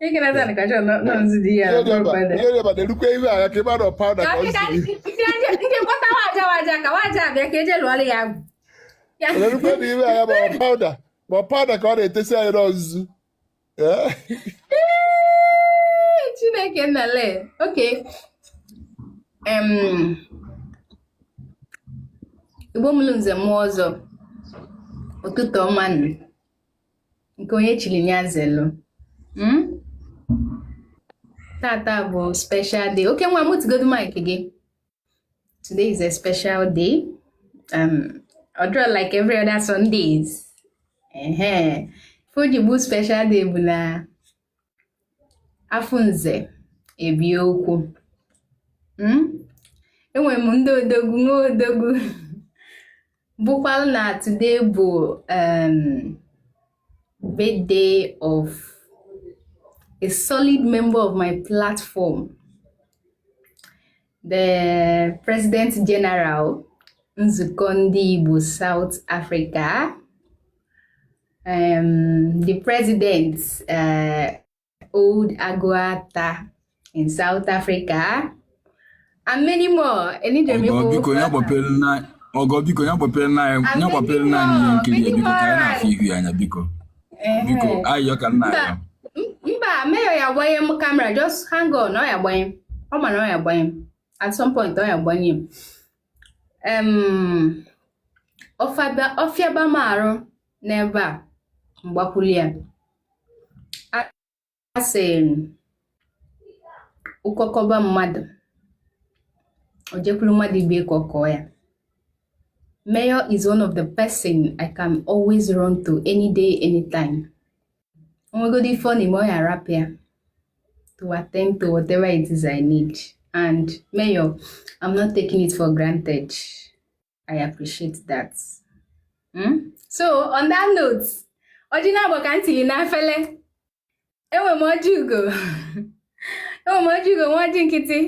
ihe na-erukwa ihu agha ka ịmara pawụda ka erukwa na ihu agha ma pawụda ma pawụda ka ọ na-etesi anyị nzu chineke nnale okay Igbo mụlụ nze mụọ ọzọ ụtụtụ ọma nke onye chili nya zelu hmm? tata bụ special day oke nwa mutegodu mic gị today is a special day um, ọ dịrọ like every other Sundays ehe ife o ji bụ special day bụ na afụ nze ebie okwu hmm? enwere m ndị odogwu nwa odogwu bụkwalụ na today bụ um, birthday of a solid member of my platform the president general nzukọ ndị Igbo South Africa um, the president uh, old Aguata in South Africa and many more. Biko ya gbapere na ihe nkiri biko ka anyị na-afụ ihu ya anya biko biko ayọ ka nna ya. Mba mayor ya agbanye m camera just hang on ọ ya agbanye ọ ma na ọ ya agbanye at some point ọ ya agbanye m. um ọ fịaba m arụ n'ebe a m gbakwulu ya a sị ọkọ kọba mmadụ o jekwuru mmadụ ibe ka ọ kọọ ya Mayor is one of the person I can always run to any day, anytime. o nwegodi ife ọ na-eme ọ ya arapụ ya to attend to whatever it is I need and mayor I'm not taking it for granted I appreciate that hmm? so on that note ọjị na-agba ka ntịlị n'afele enwe m ọjị ugo enwe m ọjị ugo nwee ọjị nkịtị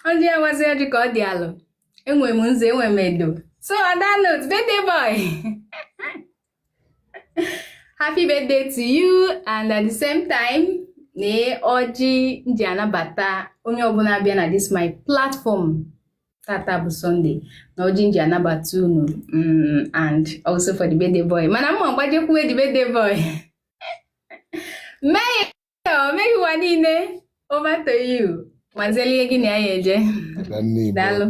ọ dị awazi ọjị ka ọ dị alụ enwe m nzu enwe m edo so on that note birthday boy happy birthday to you and at the same time na ọjị nji anabata onye ọbụla bịa na this my platform tata bụ Sunday na ọjị nji anabata unu mm, and also for the birthday boy mana mma mgbajekwuwe the birthday boy mee o meghị ụwa niile over to you mazelie gị na ya ya eje Adanne Igbo daalụ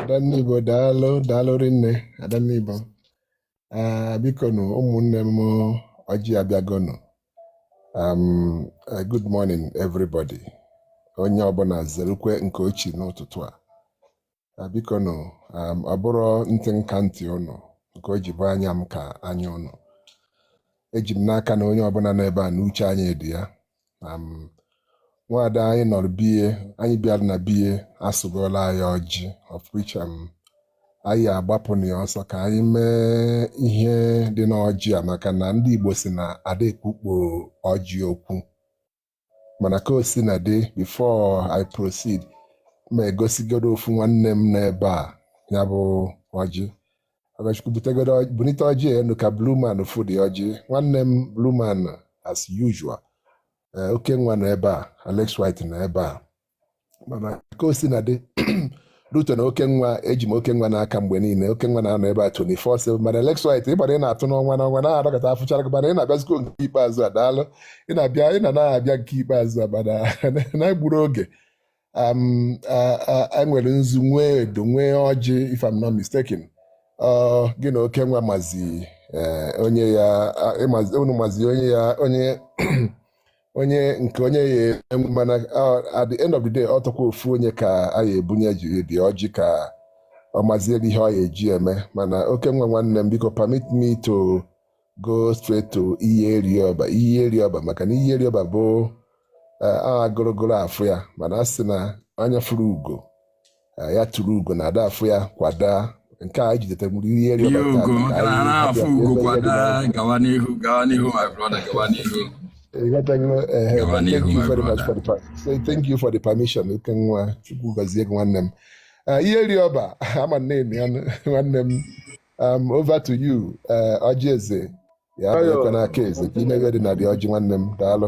Adanne Igbo daalụ daalụ rinne Adanne Igbo Ah, biko nụ ụmụnne m ọjị abịagonụ um, eh, good morning everybody onye ọbụna zerukwe nke o chi n'ụtụtụ a Ah, biko nụ um, ọ bụrọ ntị m ka ntị ụnụ nke o ji bụ anya m ka anya ụnụ eji m n'aka na onye ọbụna nọ ebe a na uche anyị dị ya um, nwaada anyị nọrọ be ye anyị bịara na be ye asụgoola anyị ọjị of which um, anyị agbapụna ya ọsọ ka anyị mee ihe dị n'ọjị a maka na ndị Igbo si na ada ekpukpo ọjị okwu mana ka o sina dị before I proceed ma egosigodo ofu nwanne m n'ebe a ya bụ ọjị Ọgọchukwu butegodo ọjị- bunite ọjị enu ka Blue Man fụ the ọjị nwanne m Blue Man as usual Eh, Okenwa nọ ebe a Alex White nọ ebe a mana ka o sina dị Ruto na Okenwa eji m Okenwa n'aka mgbe niile Okenwa na-anọ ebe a 24/7 mana Alex White ịgbara ị na-atụ n'ọnwa n'ọnwa na-adọkọta afụchara gị mana ị na-abịazikwa nke ikpeazụ a daalụ ị na-abịa ị na na-abịa nke ikpeazụ a mana n'egburo oge um, a- a- e nwere nzu nwee edo nwee ọjị if I'm not mistaken ọ gị na Okenwa mazi eh, onye ya a- ị mazi- unu mazi onye ya onye onye nke onye ya mana at the end of the day ọ tọkwa ofu onye ka a ya ebunye the ọjị ka ọ maziere ihe ọ ya eji eme mana Okenwa nwanne m biko permit me to go straight to Iheriọba Iheriọba maka na Iheriọba bụ agụrụgụrụ afụ ya mana a sị na anya fụrụ ugo ya tụrụ ugo na ada afụ ya kwa daa nke a jidetara mụrụ ihe eri thank you for the permission Okenwa Chukwu gọzie gị nwanne m Iheriọba ama na-eme ya nwanne m um, over to you ọjị eze ya bụrụkwa n'aka eze ka i mee ihe dị na the ọjị nwanne m daalụ